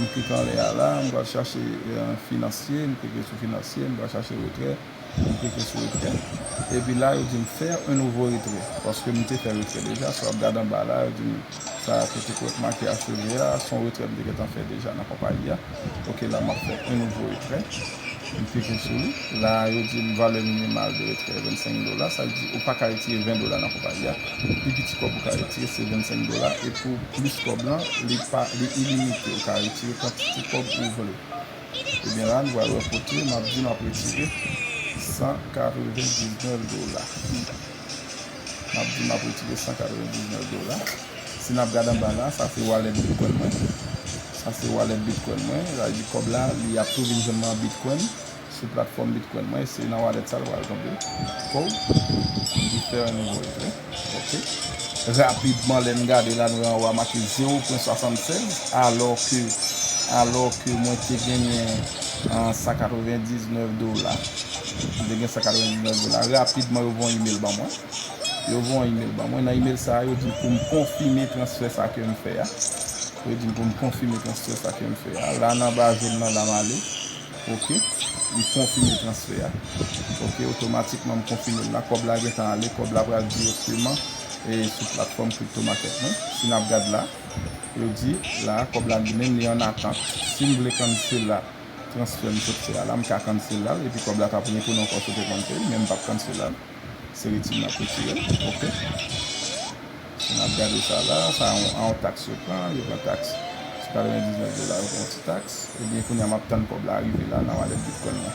M kit anlè a la, m pral chache finansye, m klike sou finansye, m pral chache retrè, m klike sou retrè, epi la yo di m faire un nouveau retrait, paske m te fè retrè deja, si w ap gade anba la yo di m sa kote pou yo t make acheve a, s on retrè m te gentan fè deja nan konpayi a, ok la m ap fè un nouveau retrait. M klike sou li. La a, yo di m valè minimal de retrè 25 dola. Sa vle di ou pa ka retire 20 dola nan konpayi a. Pi piti kòb ou ka retire se 25 dola. E pou plis kòb lan, li pa, li ilimite. Ou ka retire kantite kòb ou vle. Ebyen la a, nou pral wè kote m ap di m ap retire 199 dola. Map di map retire 199 dola. Si nap gad anba la, sa se wallet bitcoin mwen. Sa se wallet bitcoin mwen. Sa di kob la li ap tou vin jwenn mwen an bitcoin sou platform bitcoin mwen. Se nan wallet sa li pral tonbe. Kow. Refer and voice. Ok. Rapidman lè n gade la nou wè anwa make 0.76 alò ke alò ke mwen te genyen 199 dola. Mwen te gen 199 dola. Rapidman yo voye yon email ban mwen. Yo voye yon email ban mwen. Nan email sa a, yo di m pou m konfime transfè sa ke m fè a. Yo di m pou m konfime transfè sa ke m fè a. La nan anba je m nan la m ale. Ok. M konfime transfè a. Ok. Otomatikman m konfime l la. Kòb la gen tan ale. Kòb la pral direkteman sou platfòm crypto market mwen. Si n ap gad la, yo di la kòb la li menm li an atant. Si m vle cancel la. transfè m sot fè a la m ka cancel la epi kòb la kap retounen ankò sou paypal pay men m pap cancel la se retire map retirel ok nap gade sa la sa a yon tax yo pran yo pran tax sou 99 dola yo pran yon ti tax ebyen kounya map tann kòb la rive la nan wallet bitcoin mwen.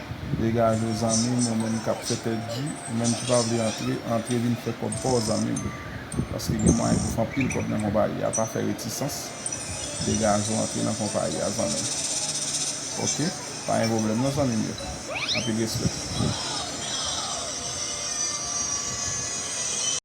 Degage w zanmim ou menm kap fè tèt di ou menm ki pa vle antre antre vin fè kòb paw zanmim paske gen mwayen pou fè anpil kòb nan konpayi a pa fè retisans degage w antre nan konpayi a zanmim ok pa gen pwoblèm non zanmim yo anpil respè.